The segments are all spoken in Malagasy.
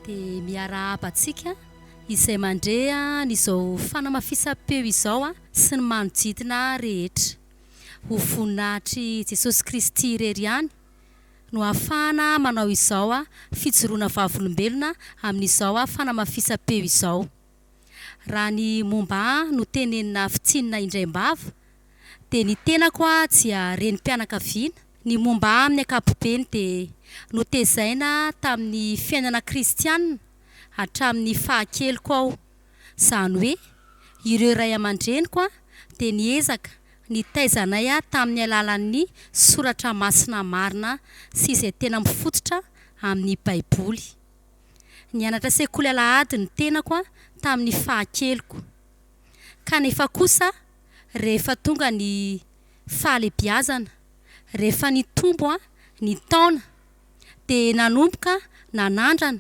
dia miarahaba antsika izay mandre an'izao fanamafisam-peo izao sy ny manodidina rehetra. Ho voninahitr'i Jesosy Kristy irery ihany no ahafahana manao izao fijoroana vavolombelona amin'izao fanamafisam-peo izao. Raha ny momba ahy no tenenina havitsinina indray am-bava dia ny tenako aho dia renim-pianakaviana, ny momba ahy amin'ny ankapobeny dia notezaina tamin'ny fiainana kristiana hatramin'ny fahakeliko aho, izany hoe ireo ray aman-dreniko dia niezaka nitaiza anay tamin'ny alalan'ny soratra masina marina sy izay tena mifototra amin'ny baiboly. Nianatra sekoly alahady ny tenako an tamin'ny fahakeliko. Kanefa kosa rehefa tonga ny fahalebiazana, rehefa nitombo an ny taona dia nanomboka nanandrana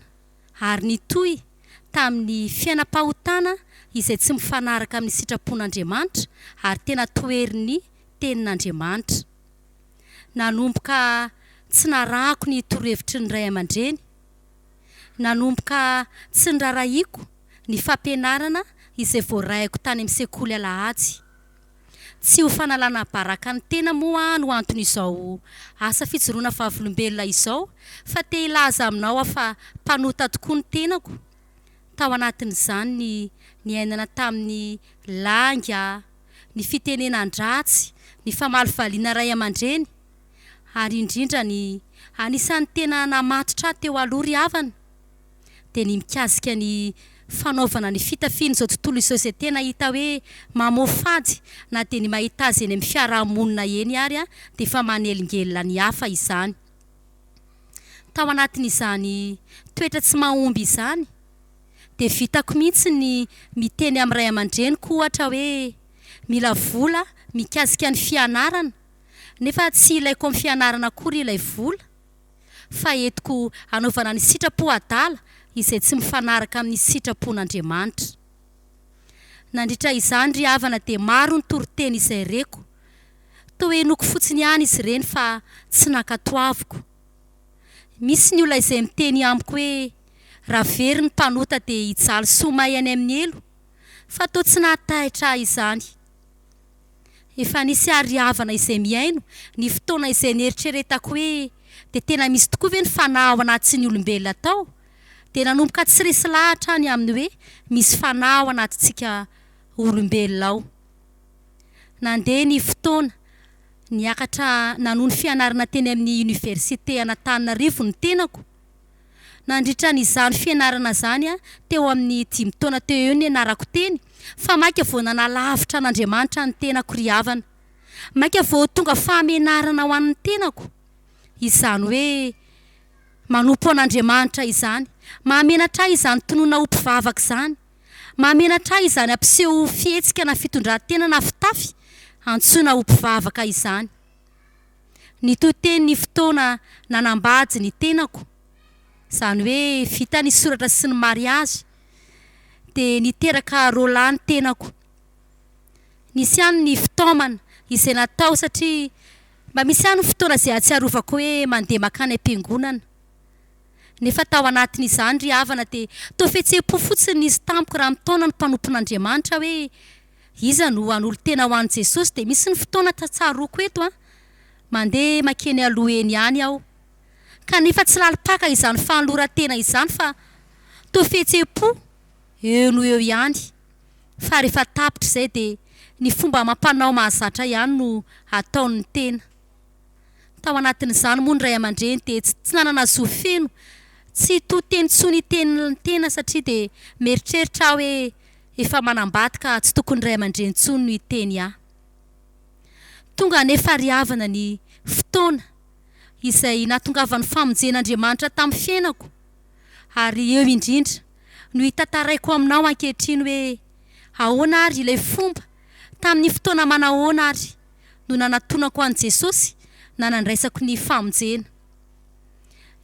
ary nitohy tamin'ny fiainam-pahotana izay tsy mifanaraka amin'ny sitrapon'Andriamanitra ary tena toherin'ny tenin'Andriamanitra. Nanomboka tsy narahako ny torohevitry ny ray aman-dreny. Nanomboka tsy norarahiako ny fampianarana izay voaraiko tany amin'ny sekoly Alahady. Tsy ho fanalana baraka ny tena moa no anton'izao asa fijoroana vavolombelona izao fa te hilaza aminao aho fa mpanota tokoa ny tenako. Tao anatin'izany ny niainana tamin'ny lainga ny fitenenan-dratsy, ny famalovaliana ray aman-dreny, ary indrindra ny anisan'ny tena namatotra ahy teo aloha ry havana dia ny mikasika ny fanaovana ny fitafian'izao tontolo izao izay tena hita hoe mamoafady na dia ny mahita azy eny amin'ny fiaraha-monina eny ary dia efa manelingelina ny hafa izany. Tao anatin'izany toetra tsy mahomby izany, dia vitako mihitsy ny miteny amin'ny ray aman-dreniko ohatra hoe mila vola mikasika ny fianarana nefa tsy ilaiko amin'ny fianarana akory ilay vola fa entiko hanaovana ny sitrapo adala izay tsy mifanaraka amin'ny sitrapon'Andriamanitra. Nandritra izany ry havana dia maro ny toriteny izay reko. Toa henoiko fotsiny ihany izy ireny fa tsy nankatoaviko. Misy ny olona izay miteny amiko hoe raha very ny mpanota dia hijaly soa may any amin'ny helo, fa toa tsy nahatahitra ahy izany. Efa nisy àry havana izay mihaino ny fotoana izay neritreretako hoe dia tena misy tokoa ve ny fanahy ao anatin'ny olombelona tao? Dia nanomboka tsy resy lahatra aho ny amin'ny hoe misy fanahy ao anatintsika olombelona ao. Nandeha ny fotoana, niakatra nanohy ny fianarana teny amin'ny Oniversite an'Antananarivo ny tenako. Nandritra an'izany fianarana izany, teo amin'ny dimy taona teo eo nianarako teny, fa mainka vao nanalavitra an'Andriamanitra ny tenako ry havana. Mainka vao tonga fahamenarana ho an'ny tenako izany hoe manompo an'Andriamanitra izany. Mahamenatra ahy izany tonona ho mpivavaka izany. Mahamenatra ahy izany hampiseho ho fihetsika na fitondran-tena na fitafy antsoina ho mpivavaka izany. Nitohy teny ny fotoana nanambady ny tenako, izany hoe vita ny soratra sy ny mariazy, dia niteraka Roland ny tenako. Nisy ihany ny fitaomana izay natao satria mba misy ihany ny fotoana izay ahatsiarovako hoe mandeha mankany am-piangonana. Nefa tao anatin'izany ry havana dia toa fihetseham-po fotsiny nisy tamiko raha mitaona ny mpanompon'Andriamanitra hoe iza no hanolotena ho an'i Jesosy dia misy ny fotoana tsaroako eto an! mandeha makeny aloha eny ihany aho kanefa tsy lalim-paka izany fanoloran-tena izany fa toa fihetseham-po eo noho eo ihany fa rehefa tapitra izay dia ny fomba amam-panao mahazatra ihany no ataon'ny tena Tao anatin'izany moa ny ray aman-dreny dia tsy nanana zo feno, tsy to teny intsony hiteny ny tena satria dia mieritreritra aho hoe efa manambady ka tsy tokony ny ray aman-dreny intsony no hiteny ahy. Tonga anefa ry havana ny fotoana izay nahatongavan'ny famonjen'Andriamanitra tamin'ny fiainako ary eo indrindra no hitantaraiko aminao ankehitriny hoe ahoana ary ilay fomba, tamin'ny fotoana manahoana ary. no nanatonako an'i Jesosy na nandraisako ny famonjena.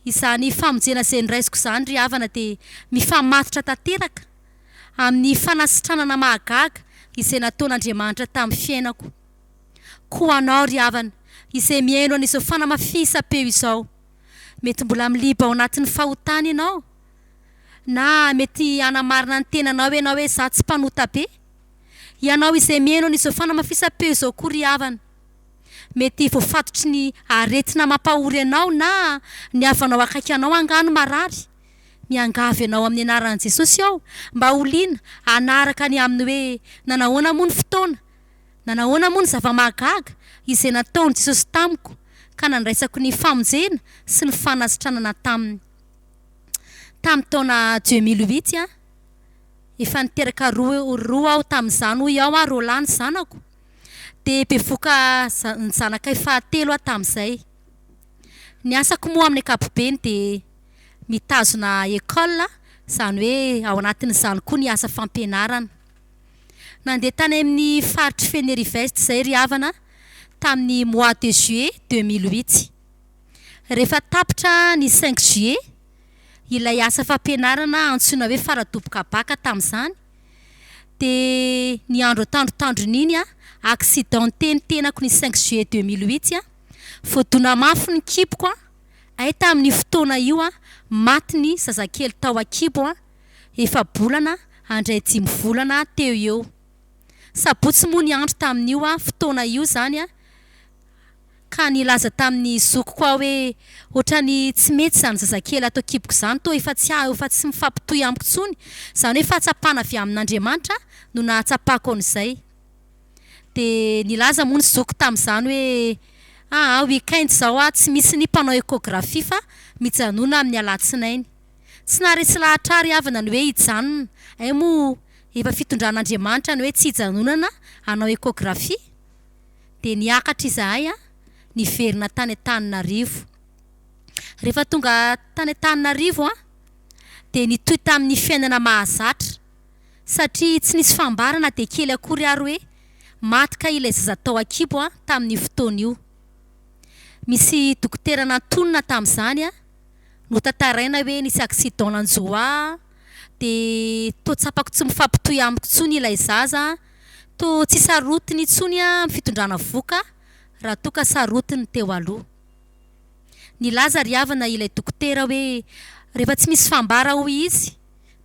Izany famonjena izay noraisiko izany ry havana dia mifamatotra tanteraka amin'ny fanasitranana mahagaga izay nataon'Andriamanitra tamin'ny fiainako. Koa ho anao ry havana izay mihaino an'izao fanamafisam-peo izao, mety mbola miliba ao anatin'ny fahotana ianao, na mety hanamarina ny tenanao ianao hoe izaho tsy mpanota be, Ianao izay mihaino an'izao fanamafisam-peo izao koa ry havana, mety voafatotry ny aretina mampahory anao na ny havanao akaiky anao angaha no marary. Miangavy anao amin'ny anaran'i Jesosy aho mba ho liana hanaraka ny amin'ny hoe nanahoana moa ny fotoana, nanahoana moa ny zava-mahagaga izay nataon'i Jesosy tamiko ka nandraisako ny famonjena sy ny fanasitranana taminy tamin'ny taona deux mille huit an! Efa niteraka roa roa aho tamin'izany hoy aho ary Rolland ny zanako dia bevoka za- ny zanakay fahatelo aho tamin'izay. Ny asako moa amin'ny ankapobeny dia mitazona école, izany hoe ao anatin'izany koa ny asa fampianarana. Nandeha tany amin'ny faritr'i Fenerive-Est izay ry havana tamin'ny mois de juillet deux mille huit. Rehefa tapitra ny cinq juillet, Ilay asa fampianarana antsoina hoe Faradoboka Baka tamin'izany dia ny andro tandrotandrony iny an, accidenté ny tenako ny cinq juillet deux mille huit an, voadona mafy ny kiboko an, ay tamin'io fotoana io an, maty ny zazakely tao an-kibo an, efa-bolana handray dimy volana teo eo. Sabotsy moa ny andro tamin'io fotoana io izany an. ka nilaza tamin'ny zokiko aho hoe, Ohatran'ny tsy mety izany zazakely ato an-kiboko izany, toa efa tsy ahy, efa tsy mifampitohy amiko intsony. Izany hoe fahatsapana avy amin'Andriamanitra no nahatsapako an'izay. Dia nilaza moa ny zokiko tamin'izany hoe, Aa, week-end izao aho tsy misy ny mpanao échographie fa mijanona amin'ny alatsinainy. Tsy naharesy lahatra ahy ry havana ny hoe hijanona, hay moa efa fitondran'Andriamanitra ny hoe tsy hijanonana hanao échographie? Dia niakatra izahay niverina tany Antananarivo. Rehefa tonga tany Antananarivo aho dia nitohy tamin'ny fiainana mahazatra satria tsy nisy fambara na dia kely akory ary hoe maty kay ilay zaza tao an-kibo tamin'io fotoana io. Misy dokotera nantonina tamin'izany notantaraina hoe nisy accident nanjo ahy dia toa tsapako tsy mifampitohy amiko intsony ilay zaza. Toa tsy sarotiny intsony aho amin'ny fitondrana vohoka raha toa ka sarotiny ny teo aloha. Nilaza ry havana ilay dokotera hoe rehefa tsy misy fambara hoy izy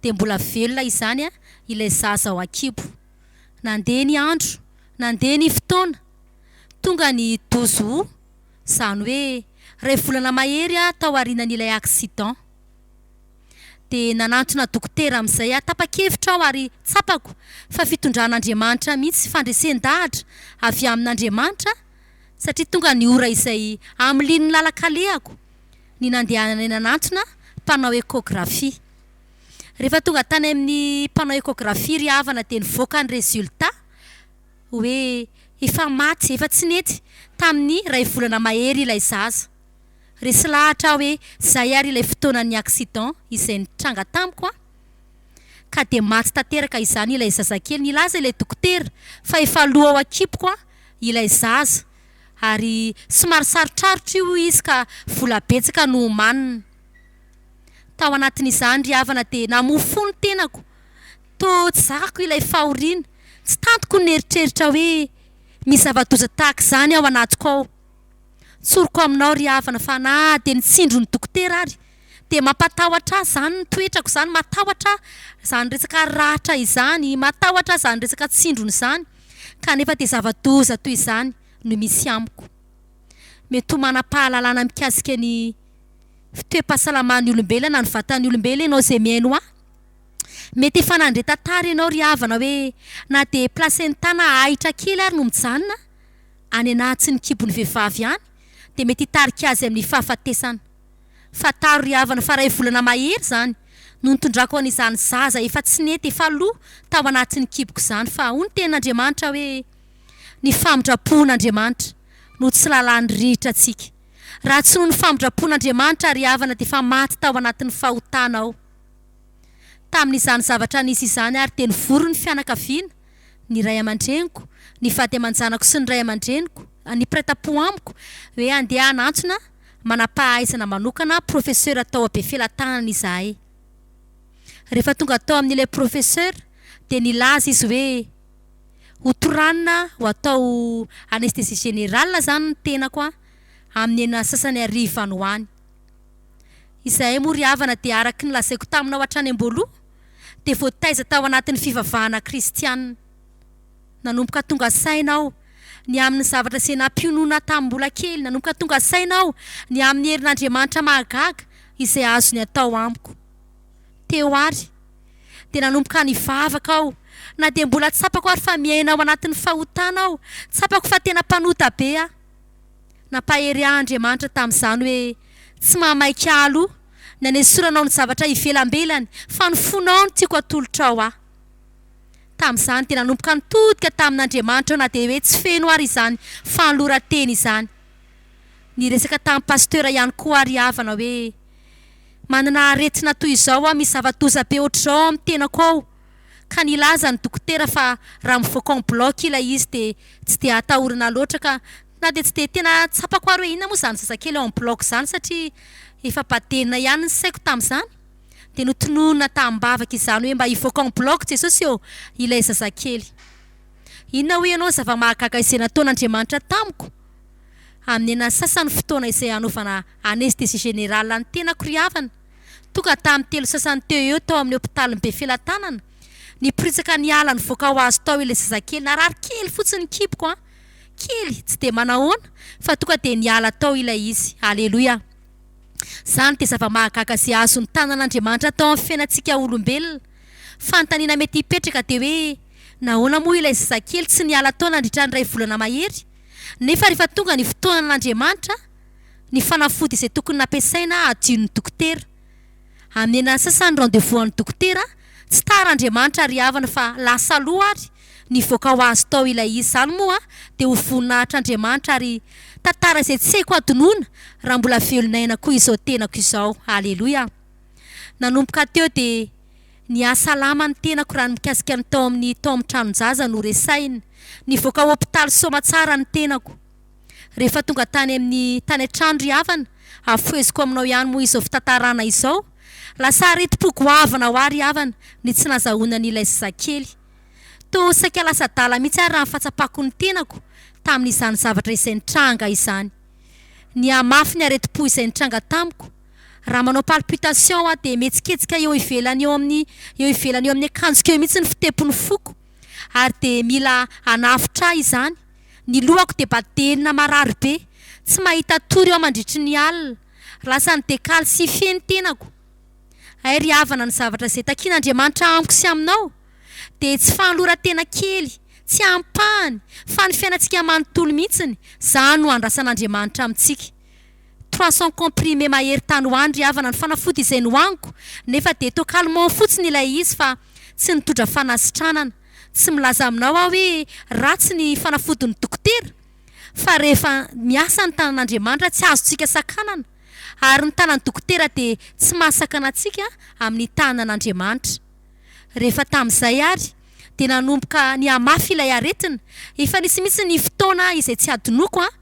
dia mbola velona izany ilay zaza ao an-kibo. Nandeha ny andro, nandeha ny fotoana, tonga ny douze aout, izany hoe iray volana mahery aho tao aorianan'ilay accident. dia nanantona dokotera amin'izay aho. Tapa-kevitra aho ary tsapako fa fitondran'Andriamanitra mihitsy, fandresen-dahatra avy amin'Andriamanitra, satria tonga ny ora izay hamilian'ny lalan-kalehako ny nandehanana eny anatona mpanao échographie. Rehefa tonga tany amin'ny mpanao échographie ry havana dia nivoaka ny résultat hoe efa maty, efa tsy nety tamin'ny iray volana mahery ilay zaza. Resy lahatra aho hoe zay ary ilay fotoanan'ny accident izay nitranga tamiko an! Ka dia maty tanteraka izany ilay zazakely, nilaza ilay dokotera fa efa lo ao an-kiboko an! ilay zaza ary somary sarotrarotra io hoy izy ka vola betsaka no omanina. Tao anatin'izany ry havana dia namoa fo ny tenako, toa tsy zakako ilay fahoriana, tsy tantiko ny nieritreritra hoe misy zava-doza tahaka izany ao anatiko ao. Tsoriko aminao ry havana fa na dia ny tsindron'ny dokotera ary dia mampatahotra ahy izany ny toetrako izany, matahotra aho izany resaka ratra izany, matahotra aho izany resaka tsindrona izany kanefa dia zava-doza toy izany no misy amiko. Mety ho manam-pahalalana mikasika ny toe-pahasalaman'ny olombelona ny vatan'ny olombelona ianao izay mihaino ahy. Mety efa nandre tantara ianao ry havana hoe na dia placenta na ahitra kely ary no mijanona. any an'ahatsin'ny kibon'ny vehivavy any dia mety hitarika azy amin'ny fahafatesana. Fantaro ry havana fa iray volana mahery izany no nitondrako an'izany zaza efa tsy nety efa lo tao anatin'ny kiboko izany fa hoy ny tenin'Andriamanitra hoe ny famindra-poan'Andriamanitra no tsy lalàny rihitra antsika. Raha tsy noho ny famindra-poan'Andriamanitra ry havana dia efa maty tao anatin'ny fahotana aho. Tamin'izany zavatra nisy izany ary dia nivory ny fianakaviana, ny ray aman-dreniko, ny vady aman-janako sy ny ray aman-dreniko, ny mpiray tampo amiko, hoe handeha hanantsona manam-pahaizana manokana profesora tao Befelatanana izahay. Rehefa tonga tao amin'ilay profesora dia nilaza izy hoe ho toranina ho atao anesthésie générale izany ny tenako amin'ny enina sasany hariva any ho any. Izahay moa ry havana dia araka ny lazaiko taminao hatrany am-boaloha dia voataiza tao anatin'ny fivavahana kristiana. Nanomboka tonga saina aho ny amin'ny zavatra izay nampionona ahy tamin'ny mbola kely. Nanomboka tonga saina aho ny amin'ny herin'Andriamanitra mahagaga izay azony atao amiko. Teo ary dia nanomboka nivavaka aho na dia mbola tsapako ary fa miaina ao anatin'ny fahotana aho. Tsapako fa tena mpanota be aho. Nampahery ahy Andriamanitra tamin'izany hoe tsy mahamaika ahy aloha ny hanesoranao ny zavatra ivelambelany fa ny fonao no tiako hatolotrao aho. Tamin'izany dia nanomboka nitodika tamin'Andriamanitra aho na dia hoe tsy feno ary izany fanoloran-tena izany. Niresaka tamin'ny pasitera ihany koa aho ry havana hoe manana aretina toy izao aho, misy zava-doza be hoatr'izao ao amin'ny tenako ao. ka nilaza ny dokotera fa raha mivoaka en bloc ilay izy dia tsy dia atahorana loatra ka na dia tsy dia tena tsapako ary hoe inona moa izany zazakely en bloc izany satria efa badena ihany ny saiko tamin'izany dia notononina tamim-bavaka izany hoe mba hivoaka en bloc Jesosy ô ilay zazakely. Inona hoy ianao zava-mahagaga izay nataon'Andriamanitra tamiko? Amin'ny an'asasany fotoana izay hanaovana anesthésie générale ny tenako ry havana, Tonga tamin'ny telo sasany teo eo tao amin'ny hopitalin'i Befelatanana, niporitsaka niala nivoaka ho azy tao ilay zazakely. Narary kely fotsiny ny kiboko an! Kely, tsy dia manahoana, fa tonga dia niala tao ilay izy. Aleloia! Izany dia zava-mahagaga izay azon'ny tanan'Andriamanitra atao amin'ny fiainantsika olombelona. Fanontaniana mety hipetraka dia hoe, Nahoana moa ilay zazakely tsy niala tao nandritra ny iray volana mahery? Nefa rehefa tonga ny fotoanan'Andriamanitra, ny fanafody izay tokony nampiasaina hadio ny dokotera. Hamena ny sasany ny rendez-vous an'ny dokotera, tsy tara Andriamanitra ry havana fa lasa aloha ary nivoaka ho azy tao ilay izy izany moa dia ho voninahitr' Andriamanitra ary tantara izay tsy haiko hadinoina raha mbola velon'aina koa izao tenako izao Aleloia Nanomboka teo dia nihasalama ny tenako raha ny mikasika ny tao amin'ny tao amin'ny tranon-jaza no resahina. Nivoaka hopitaly soamatsara ny tenako. Rehefa tonga tany amin'ny tany an-trano ry havana, hafoheziko aminao ihany moa izao fitantarana izao. Lasa aretim-po goavana ho ahy ry havana ny tsy nazahoana an'ilay zazakely. Toa saika lasa adala mihitsy ary raha ny fahatsapako ny tenako tamin'izany zavatra izay nitranga izany. Nihamafy ny aretim-po izay nitranga tamiko. Raha manao palpitations aho dia mihetsiketsika eo ivelany eo amin'ny eo ivelany eo amin'ny akanjoko eo mihitsy ny fitepon'ny foko ary dia mila hanafotra ahy izany. Ny lohako dia badelina marary be, tsy mahita tory aho mandritry ny alina, lasan'ny dekal sy fe ny tenako. Hay ry havana ny zavatra izay takian'Andriamanitra amiko sy aminao dia tsy fanoloran-tena kely, tsy ampahany, fa ny fiainantsika manontolo mihitsiny, izany no andrasan'Andriamanitra amintsika. Trois cents comprimés mahery tany ho any ry havana ny fanafody izay nohaniko, nefa dia toa calmant fotsiny ilay izy fa tsy nitondra fanasitranana. Tsy milaza aminao aho hoe ratsy ny fanafodin'ny dokotera, fa rehefa miasa ny tanan'Andriamanitra tsy azontsika sakanana, ary ny tanan'ny dokotera dia tsy mahasakana antsika amin'ny tanan'Andriamanitra. Rehefa tamin'izay ary dia nanomboka nihamafy ilay aretina, efa nisy mihitsy ny fotoana izay tsy hadinoko an,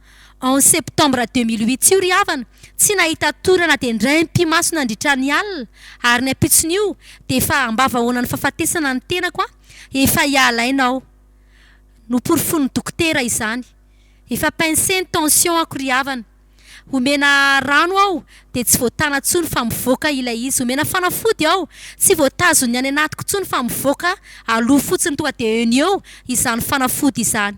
En septembre deux mille huit io ry havana, tsy nahita tory na dia indray mpimaso nandritra ny alina, ary ny ampitson'io dia efa ambavahaonan'ny fahafatesana ny tenako an, efa hialaina aho. Noporofoin'ny dokotera izany. Efa pince ny tension-ko ry havana. Omena rano aho dia tsy voatana intsony fa mivoaka ilay izy. Omena fanafody aho, tsy voatazon'ny any anatiko intsony fa mivoaka aloha fotsiny tonga dia eo no eo izany fanafody izany.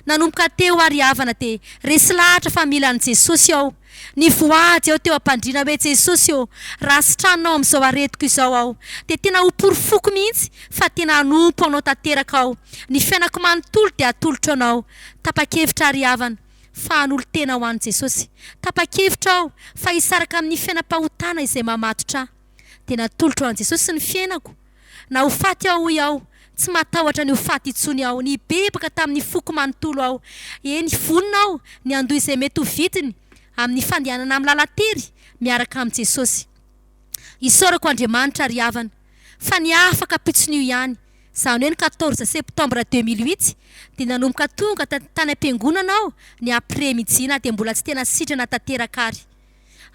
Nanomboka teo ary havana dia resy lahatra fa mila an'i Jesosy aho. Nivoahaja eo teo am-pandriana hoe Jesosy ô, raha sitranina ao amin'izao aretiko izao aho dia tena ho porofoko mihitsy fa tena hanompo anao tanteraka aho. Ny fiainako manontolo dia atolotro anao. Tapa-kevitra ary havana fa hanolo-tena ho an'i Jesosy. Tapa-kevitra aho fa hisaraka amin'ny fiainam-pahotana izay mamatotra ahy. dia natolotro an'i Jesosy ny fiainako, na ho faty aho hoy aho, tsy matahotra ny ho faty intsony aho, nibebaky tamin'ny foko manontolo aho, eny vonona aho ny handoa izay mety ho vidiny amin'ny fandehanana amin'ny lalan-tery miaraka amin'i Jesosy. Isaorako Andriamanitra ry havana fa ny afaka am-pitson'io ihany, izany hoe ny quatorze septembre deux mille huit dia nanomboka tonga tany am-piangonana aho ny après midi na dia mbola tsy tena sitrana tanteraka ary.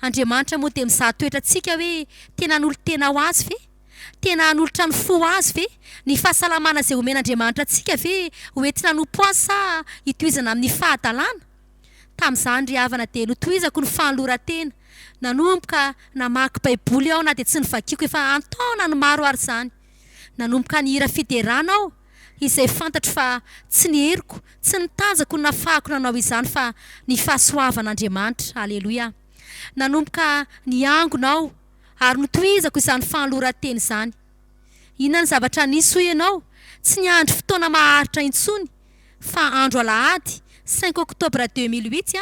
Andriamanitra moa dia mizaha toetra antsika hoe tena hanolo tena ho Azy ve? Tena hanolotra ny fo ho Azy ve? Ny fahasalamana izay omen'Andriamanitra antsika ve ho entina hanompo Azy sa hitohizana amin'ny fahadalana? Tamin'izany ry havana dia notohizako ny fanoloran-tena. Nanomboka namaky Baiboly aho na dia tsy novakiako efa an-taonany maro ary izany. Nanomboka nihira fiderana aho. izay fantatro fa tsy ny heriko, tsy ny tanjako no nafahako nanao izany fa ny fahasoavan'Andriamanitra. Aleloia. Nanomboka niangona aho ary notohizako izany fanoloran-tena izany. Inona ny zavatra nisy hoy ianao? Tsy niandry fotoana maharitra intsony fa andro alahady cinq octobre deux mille huit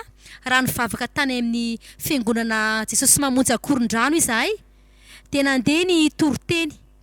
raha nivavaka tany amin'ny fiangonana Jesosy Mamonjy Ankorondrano izahay dia nandeha ny toriteny.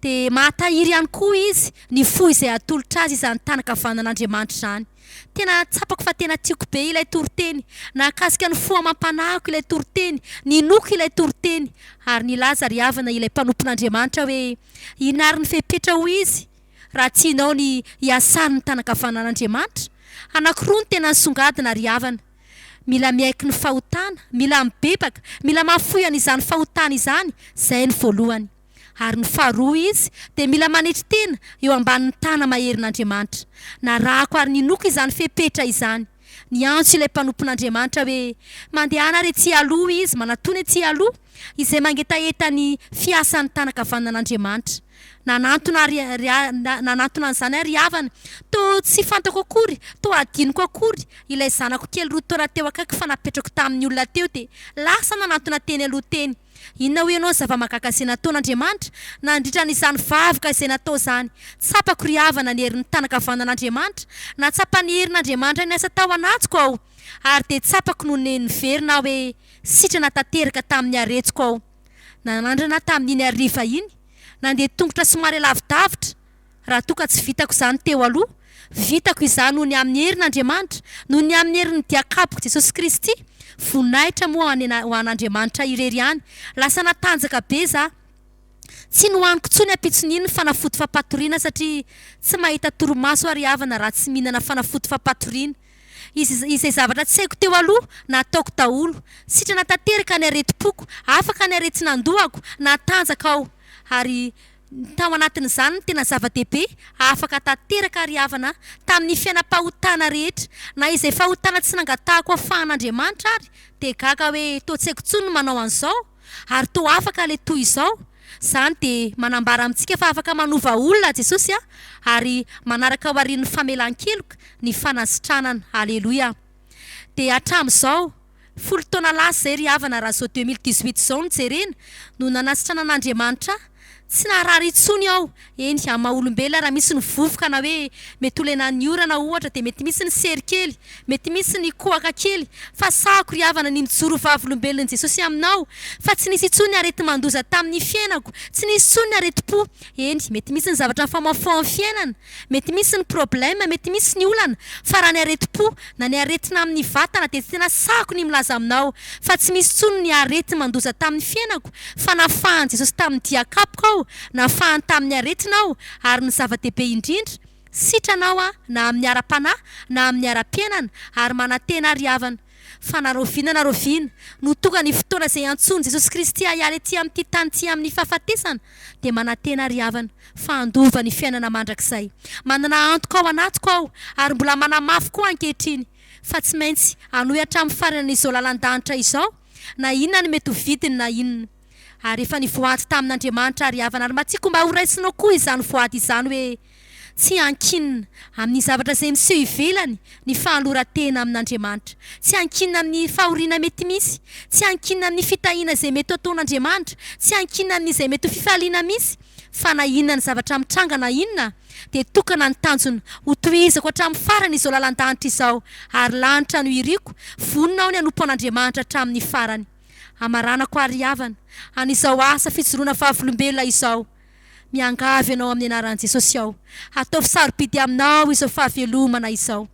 Dia mahatahiry ihany koa izy ny fo izay hatolotra azy izany tànankavanan'Andriamanitra izany. Tena tsapako fa tena tiako be ilay toriteny. Nahakasika ny fo amam-panahiko ilay toriteny. Ninoako ilay toriteny. Ary nilaza ry havana ilay mpanompon'Andriamanitra hoe, Inary ny fepetra hoy izy, raha tianao ny hiasan'ny tànankavanan'Andriamanitra? Anankiroa no tena nisongadina ry havana. Mila miaiky ny fahotana, mila mibebaka, mila mahafoy an'izany fahotana izany, izay ny voalohany. Ary ny faharoa izy dia mila manetry tena eo ambanin'ny tana maherin'Andriamanitra. Narahako ary ninoako izany fepetra izany. Niantso ilay mpanompon'Andriamanitra hoe mandehana ary etsy aloha izy, manatona etsy aloha izay mangetaheta ny fiasan'ny tana kavaninan'Andriamanitra. Nanantona ary nanantona an'izany ary havana. Toa tsy fantako akory, toa hadinoko akory, ilay zanako kely roa taona teo akaiky fa napetrako tamin'ny olona teo dia lasa nanantona teny aloha teny. Inona hoy ianao ny zava-mahagaga izay nataon'Andriamanitra nandritra an'izany vavaka izay natao izany? Tsapako ry havana ny herin'ny tànankavanan'Andriamanitra, na tsapan'ny herin'Andriamanitra niasa tao anatiko aho, ary dia tsapako no niverina aho hoe sitrana tanteraka tamin'ny haretsoko aho. Nanandrana tamin'iny hariva iny, nandeha tongotra somary lavidavitra, Raha toa ka tsy vitako izany teo aloha, vitako izany noho ny amin'ny herin'Andriamanitra, noho ny amin'ny herin'ny diakaboko Jesosy Kristy. Voninahitra moa ho an' ho an' Andriamanitra irery ihany. Lasa natanjaka be za. Tsy nohaniko intsony ampitson'iny ny fanafody fampatoriana satria tsy mahita torimaso ary havana raha tsy mihinana fanafody fampatoriana. Iz izay zavatra tsy haiko teo aloha, nataoko daholo. Sitrana tanteraka ny aretim-poko, afaka ny aretin'andohako, natanjaka aho. Ary Tao anatin'izany ny tena zava-dehibe afaka hahatanteraka àry havana tamin'ny fiainam-pahotana rehetra. Na izay fahotana tsy nangatahako afahan'Andriamanitra àry dia gaga hoe toa tsy haiko intsony ny manao an'izao, ary toa afaka ilay toy izao. Izany dia manambara amintsika fa afaka manova olona Jesosy ary manaraka ao aorian'ny famelan-keloka ny fanasitranana. Aleloia! Dia hatramin'izao. Folo taona lasa izay ry havana raha izao deux mille dix huit izao no jerena no nanasitrana an'Andriamanitra ahy. Tsy naharary intsony aho, eny amin'ny maha olombelona raha misy ny vovoka na hoe mety ho lenan'ny orana ohatra dia mety misy ny sery kely, mety misy ny kohaka kely fa sahako ry havana ny mijoro ho vavolombelon'i Jesosy aminao fa tsy nisy intsony ny areti-mandoza tamin'ny fiainako, tsy nisy intsony ny aretim-po, eny mety misy ny zavatra nifamaofaohan'ny fiainana, Mety misy ny problème, mety misy ny olana, fa raha ny aretim-po, na ny aretina amin'ny vatana dia tena sahako ny milaza aminao fa tsy misy intsony ny areti-mandoza tamin'ny fiainako fa nafahan'i Jesosy tamin'ny dia kapoka aho, nafahany tamin'ny aretina aho, ary ny zava-dehibe indrindra, sitrana aho na amin'ny ara-panahy na amin'ny ara-piainana ary manantena ary havana. Fa na rahoviana na rahoviana no tonga ny fotoana izay iantsoan'i Jesosy Kristy hahiala ety amin'ity tany ity amin'ny fahafatesana, dia manantena ry havana fa handova ny fiainana mandrakizay. Manana antoka ao anatiko aho, ary mbola manamafy koa ankehitriny, fa tsy maintsy hanohy hatramin'ny faranan'izao lalan-danitra izao, na inona ny mety ho vidiny na inona. Ary efa nivoady tamin'Andriamanitra ry havana ary mba tiako mba horaisinao koa izany voady izany hoe tsy ankinina amin'ny zavatra izay miseho ivelany ny fahaloran-tena amin'Andriamanitra, tsy ankinina amin'ny fahoriana mety misy, tsy ankinina amin'ny fitahiana izay mety ho ataon'Andriamanitra, tsy ankinina amin'izay mety ho fifaliana misy, fa na inona ny zavatra mitranga na inona dia tokana ny tanjona hotohizako hatramin'ny farany izao lalan-danitra izao ary lanitra no iriko, vonona aho ny hanompo an'Andriamanitra hatramin'ny farany. Hamaranako ary hihavana an'izao asa fijoroana vavolombelona izao. Miangavy anao amin'ny anaran'i Jesosy aho, hataovy sarobidy aminao izao fahavelomana izao.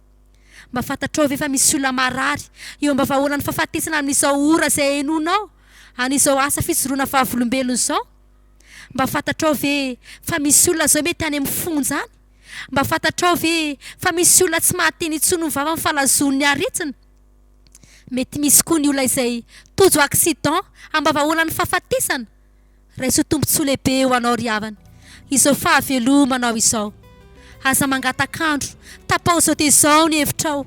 Mba fantatrao ve fa misy olona marary eo am-bavahoanan'ny fahafatesana amin'izao ora izay henoinao an'izao asa fijoroana vavolombelona izao? Mba fantatrao ve fa misy olona izao mety any amin'ny fonja any? Mba fantatrao ve fa misy olona tsy mahateny intsony ny vavany fa lazoin'ny aretina? Mety misy koa ny olona izay tojo accident ambavaholan'ny fahafatesana. Raiso tombontsoa lehibe ho anao ry havana izao fahavelomanao izao. Aza mangatak'andro, tapaho izao dia izao ny hevitrao.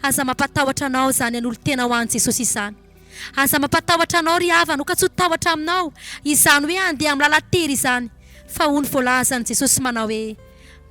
Aza mampatahotra anao izany hanolo-tena ho an'i Jesosy izany. Aza mampatahotra anao ry havana, ho ka tsy ho tahotra aminao izany hoe handeha amin'ny lalan-tery izany, fa hoy ny voalazan'i Jesosy manao hoe.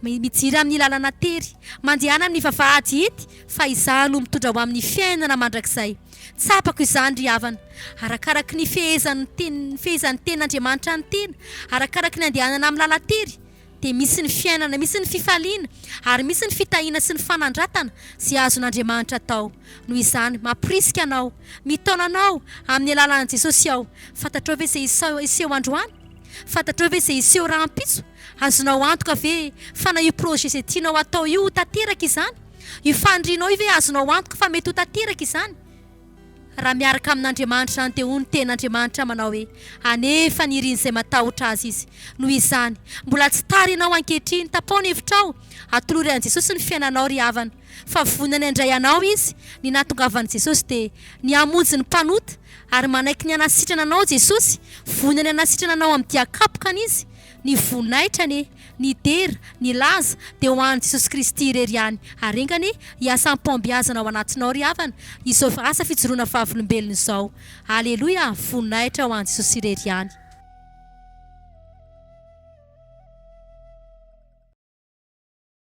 Mijira amin'ny lalana tery. Mandehana amin'ny vavahady hit fa izaho no mitondra ho amin'ny fiainana mandrakizay. Tsapako izany ry havana. Arakaraky ny fehezan'ny ten- ny fehezan'ny tenin'Andriamanitra ny tena, arakaraky ny andehanana amin'ny lalan-tery, dia misy ny fiainana, misy ny fifaliana, ary misy ny fitahiana sy ny fanandratana izay azon'Andriamanitra atao. Noho izany, mamporisika anao, mitaona anao amin'ny alalan'i Jesosy aho. Fantatrao ve izay hiseho androany? Fantatrao ve izay hiseho rahampitso? Azonao antoka ve fa na io projet izay tianao hatao io ho tanteraka izany? Io fanirianao io ve azonao antoka fa mety ho tanteraka izany? Raha miaraka amin'Andriamanitra izany dia hoy ny Tenin'Andriamanitra manao hoe, Hanefa ny irin'izay matahotra Azy Izy. Noho izany, mbola tsy tara ianao ankehitriny. Tapao ny hevitrao. Atolory an'i Jesosy ny fiainanao ry havana. Fa vonona ny handray anao Izy. Ny nahatongavan'i Jesosy dia ny hamonjy ny mpanota. Ary manaiky ny hanasitrana anao Jesosy. Vonona ny hanasitrana anao amin'ny dia kapokany Izy. Ny voninahitra anie, ny dera, ny laza dia ho an'i Jesosy Kristy irery ihany. Ary enga anie hiasa am-pahombiazana ao anatinao ry havana izao asa fijoroana vavolombelona izao. Aleloia, voninahitra ho an'i Jesosy irery ihany.